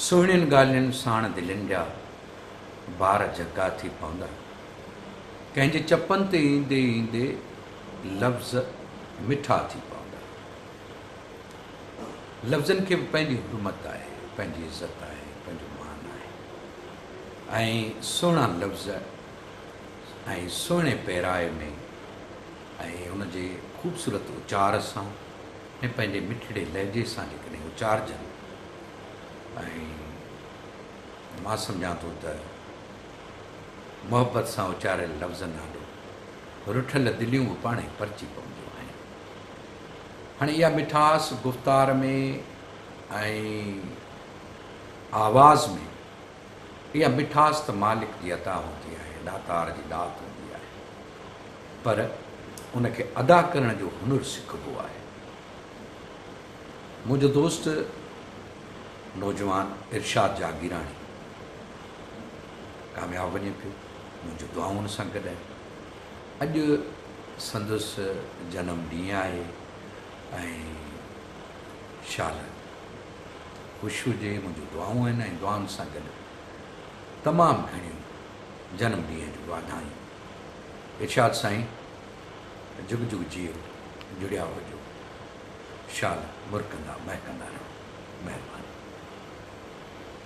سهڻين ڳالهين ساڻ دلين جا بار جهڳا ٿي پوندا. ڪنهن جي چپن تي ايندي ايندي لفظ مٺا ٿي پوندا. لفظن کي به پنهنجي حرمت آهي، پنهنجي عزت آهي، پنهنجو مان آهي ۽ سهڻا لفظ ۽ سهڻي پيرائي ۾ ۽ ان جي خوبصورت اچار سان، ۾ پنهنجي مٺڙي لهجي سان جيڪڏهن اچارجن ۽ مان سمجهان ٿو ته محبت سان اچاريل لفظن آڏو رٺل دليون به پاڻهي پرچي پونديون آهن. هاڻي اها مٺاس گفتار ۾ ۽ آواز ۾ اها مٺاس ته مالڪ جي عطا هوندي آهي، ڏاتار جي ڏات هوندي آهي، پر ان کي ادا ڪرڻ جو هنر سکبو آهي. منهنجو دوست نوجوان ارشاد جاگيراڻي ڪامياب وڃي پيو، منهنجون دعائون ان سان گڏ آهن. اڄ سندس جنم ڏينهن آهي ۽ شال خوش هجي منهنجون دعائون آهن ۽ دعائن سان گڏ تمام گهڻيون جنم ڏينهن جون واڌايون ارشاد سائين جگ جگ جيئو جڙيا هجو شال مرڪندا مهڪندا رهو مهرباني.